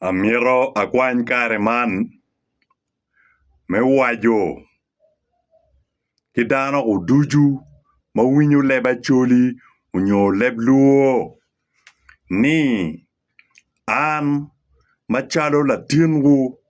Amito akwany kare man me waco ki dano ducu ma winyo leb Acholi nyo leb Luo ni an macalo latinwu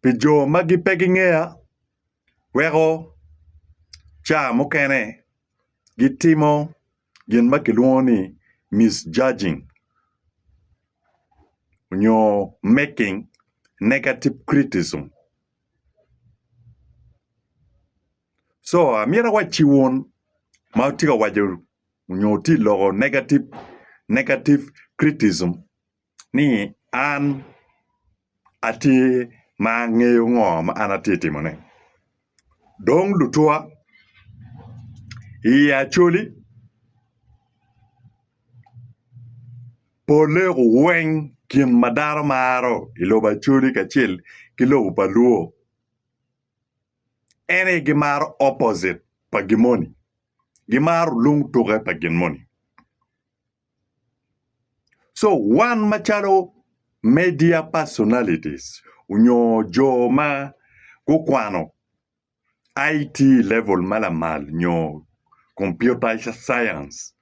pi jo magi pe gingeya weko ca mukene gitimo gin ma kilwongo ni misjudging nyo making negative criticism co amyero awacci wun ma wutye ka waco nyo wutye ka loko negative criticism. ni an atye ma angeyo ngo ma an atye ka timone. Dong lutwa iye acoli pole weng gin ma dano maro i lobo acoli kacel ki lobo pa luo en aye gimaro opposite pa gin moni gimaro lung tuke pa gin moni. So wan macalo media personalities onyo jo ma gukwano IT level ma lamal nyo computer science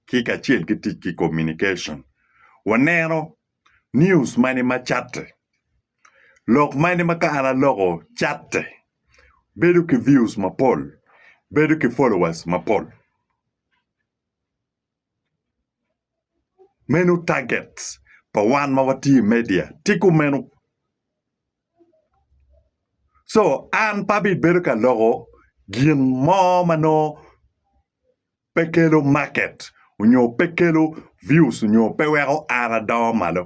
ki kacel ki tic ki communication waneno news mani ma catte, lok mani ma ka an aloko catte bedo ki views mapol, bedo ki followers mapol. Meno target pa wan ma watye i media tye kumeno. Co an pe abibedo ka loko gin mo ma nongo pe kelo market nyo pe kelo views nyo pe weko an adongo malo.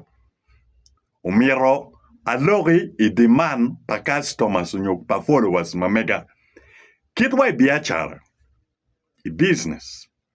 Omyero aloki i demand pa customers nyo pa followers ma mega. Kit wa i biacara, i business.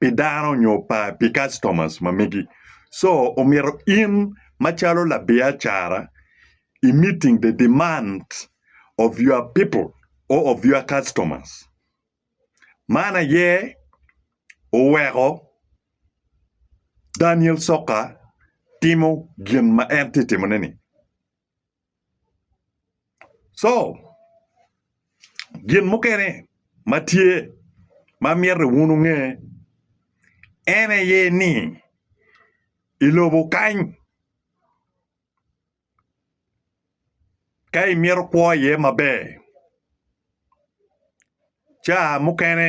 pi dano nyo pa pi customers ma megi. So omito in macalo labiacara i meeting the demand of your people or of your customers. Man aye oweko Daniel Soka timo gin ma en tye timone ni. Co gin mukene ma tye ma myero wun wunge en aye ni i lobo kany ka imyero kwo iye maber ca mukene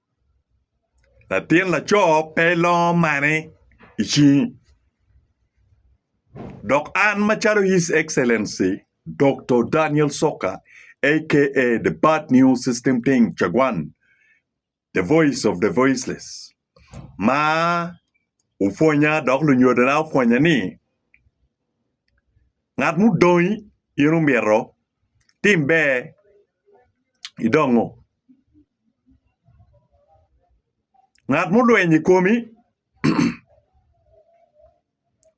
Latin laco pe ilongo mani i cingi dok an macalo His Excellency Dokto Daniel Soka aka The Bad News System Teng Cagwan The Voice of the Voiceless ma opwonya dok lunyodona opwonya ni ngat mudongi in omyero itim ber idongo. Ngat mulweny i komi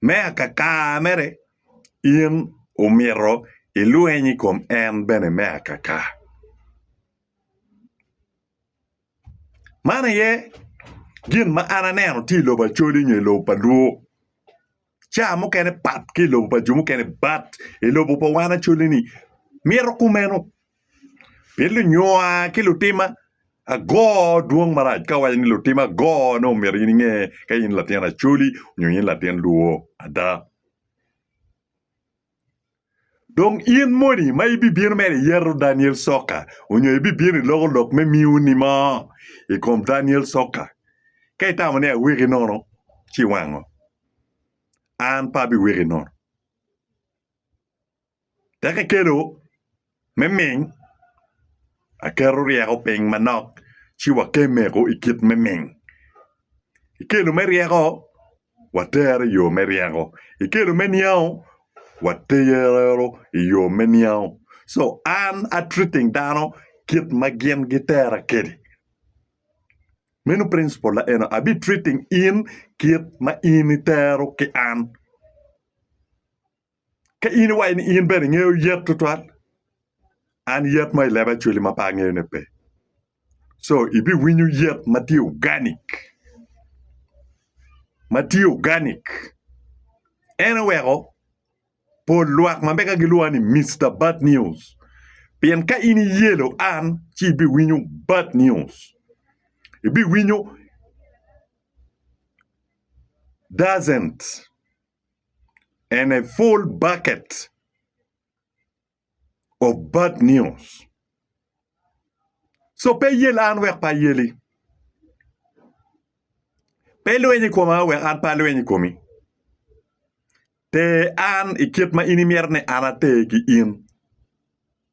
me akakar mere in omyero ilweny i kom en bene me akakar man aye gin ma an aneno tye i lobo Acholi nyo i lobo pa Lwok. Caa mukene pat ki i lobo pa jo mukene but i lobo pa wan acoli ni mito kumeno pien lunyowa ki lutima ago dwong marac ka wawaco ni lutima ago nongo myero in inge ka in latin acoli nyo in latin lwor ada. Dong in moni ma ibibino mere iyeto Daniel Soka onyo ibibino iloko lok me miu ni mo i kom Daniel Soka? Ka itamo ni aweki nono, ci wango. An pe abiweki nono. Tek ikelo. Me ming, Aketo ryeko piny manok ci wakemeko i kit me ming. Ikelo me ryeko, watero i yo me ryeko. Ikelo me niango, watero i yo me niango. So an a treating dano kit ma gin gitera kedi. Meno principle na eno abi treating in kit ma in itero ki an. Ka in iwaco ni in bene ingeyo yet tutwal, an yet mo i leba actually ma pe angeyone pe. So ibiwinyo yet ma tye organic. Ma tye organic. En oweko pol lwak ma mega gilwonga ni Mister Bad News. Pien ka in iyelo an ci ibiwinyo bad news. Ibiwinyo doesn't. and a full bucket of bad news. So pe iyel an wek pe ayeli. Pe ilweny i koma wek an pe alweny i komi. Ter an i kit ma in imito ni an ater ki in.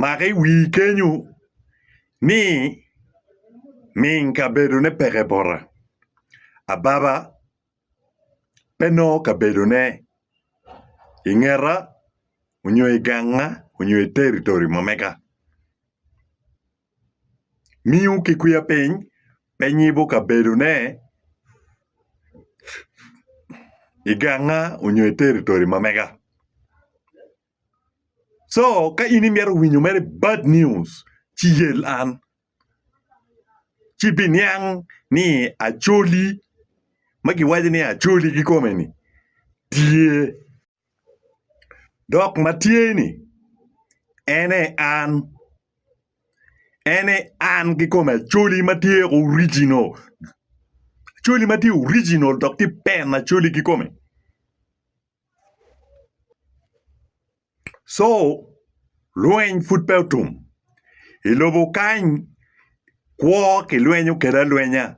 Mak i wii kenyo ni ming kabedo ne peke bota. Ababa pe nongo kabedo ne i ngeta onyo i ganga onyo i territory ma mega. miyo ki kwiya piny pe nyibo kabedone i ganga nyo i territory ma mega. Co ka in imito winyo mere bad news ci yel an ci ibiniang ni Acholi ma giwaco ni Acholi kikome-ni tye. Dok ma tye-ni en aye an. En aye an kikome Acholi ma tye original. Acholi ma tye original dok tye pen Acholi kikome. Co Lweny pud pe otum. I lobo kany, kwo kilwenyo kwede alwenya.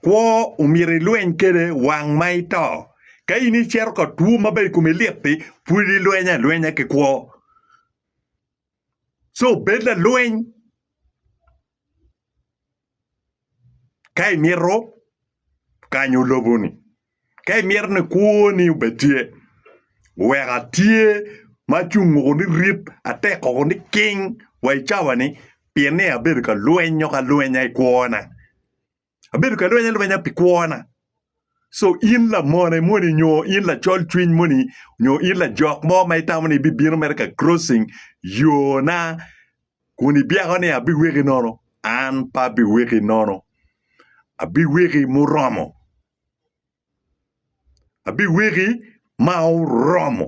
Kwo omyero ilweny kwede wang ma ito. Ka in icito ka two ma bene i komi lit-ti, pud ilweny alwenya ki kwo. Co bed lalweny. Ka imito kanyo loboni, ka imito ni kwoni obed tye, wek atye ma acung woko ni rip, atek woko ni king wa i cawani pien ni abedo ka lwenyo ka lwenya i kwona. Abedo ka lwenyo alwenya pi kwona. Co in lamone moni nyo in lacol cwiny moni nyo in lajok mo ma itamo ni ibibino mere ka crossing yona. kun ibyeko ni abiweki nono, an pe abiweki nono, abiweki muromo, abiweki ma oromo.